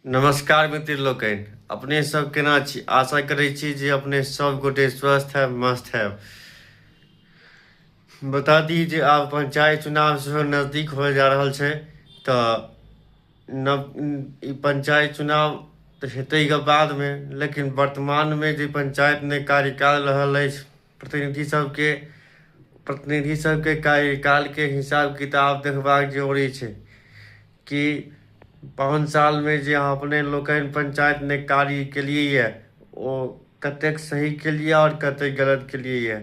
नमस्कार मित्र लोकनि अपने सब केना छी आशा करै छी जे अपने सब गोटे स्वस्थ है मस्त है बता दी जे आब पंचायत चुनाव सेहो नजदीक हो जा रहल छै तऽ नव ई पंचायत चुनाव तऽ हेतै के बादमे लेकिन वर्तमानमे जे पंचायतमे कार्यकाल रहल अछि प्रतिनिधि सबके प्रतिनिधि सबके कार्यकालके हिसाब किताब देखबाक जरूरी छै कि पाँच सालमे जे अहाँ अपने लोकनि पंचायतमे कार्य केलियै यऽ ओ कतेक सही केलियै आओर कतेक गलत केलियै यऽ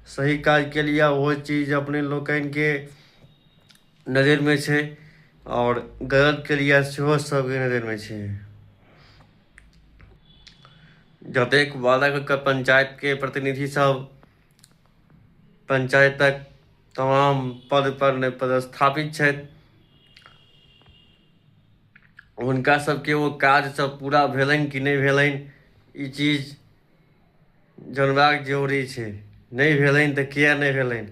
सही काज केलियै ओ चीज अपने लोकनिके नजरिमे छै आओर गलत क्रिया सेहो सभके नजरिमे छै जतेक वादाके पंचायतके प्रतिनिधि सब पंचायतक तमाम पद पर पदस्थापित छथि हुनका सबके ओ काज सब पूरा भेलनि कि नहि भेलनि ई चीज जनबाक जरूरी छै नहि भेलनि तऽ किए नहि भेलनि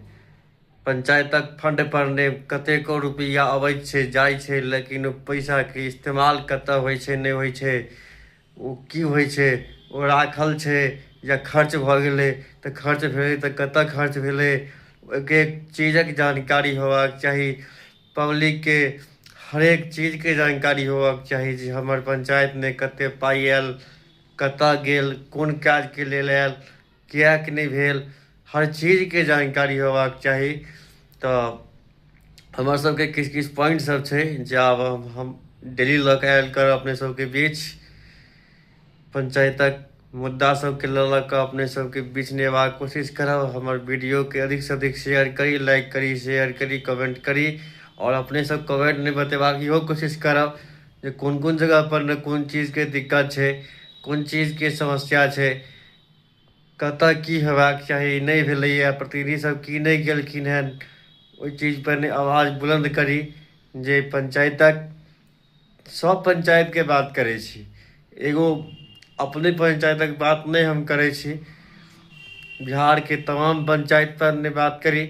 पंचायतक फंड पर ने कतेको रुपैआ अबैत छै जाइ छै लेकिन ओ पैसाके इस्तेमाल कतऽ होइ छै नहि होइ छै ओ की होइ छै ओ राखल छै या खर्च भऽ गेलै तऽ खर्च भेलै तऽ कतऽ खर्च भेलै ओहिके चीजक जानकारी होयबाक चाही पब्लिकके हरेक चीजके जानकारी होयबाक चाही जे हमर पंचायतमे कते पाइ आयल कतय गेल कोन काजके लेल आयल किएक नहि भेल हर चीजके जानकारी होयबाक चाही तऽ हमर सभके किछु किछु पॉइंट सभ छै जे आब हम डेली लऽ कऽ आयल करब अपने सभके बीच पंचायतक मुद्दा सभके लऽ लऽ कऽ अपने सभके बीच नेबाक कोशिश करब हमर वीडियोके अधिकसँ अधिक शेयर करी लाइक करी शेयर करी कमेंट करी आओर अपने सभ कमेंट नहि बतेबाक इहो कोशिश करब जे कोन कोन जगहपर ने कोन चीजके दिक्कत छै कोन चीजके समस्या छै कतय की हेबाक चाही नहि भेलैए प्रतिनिधिसभ की नहि गेलखिन हेँ ओहि चीजपर नहि आवाज बुलन्द करी जे पञ्चायतक सभ पञ्चायतके बात करै छी एगो अपने पञ्चायतक बात नहि हम करै छी बिहारके तमाम पञ्चायतपर नहि बात करी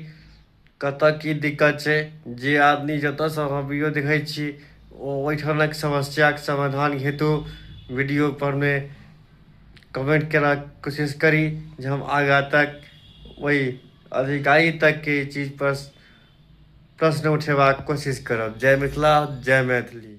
कतऽ की दिक्कत छै जे आदमी जतऽसँ अहाँ वीडियो देखै छी ओ ओहिठामक समस्याके समाधान हेतु वीडियोपरमे कमेन्ट केबाक कोशिश करी जे हम आगाँ तक ओहि अधिकारी तकके ई चीजपर प्रश्न उठेबाक कोशिश करब जय मिथिला जय मैथिली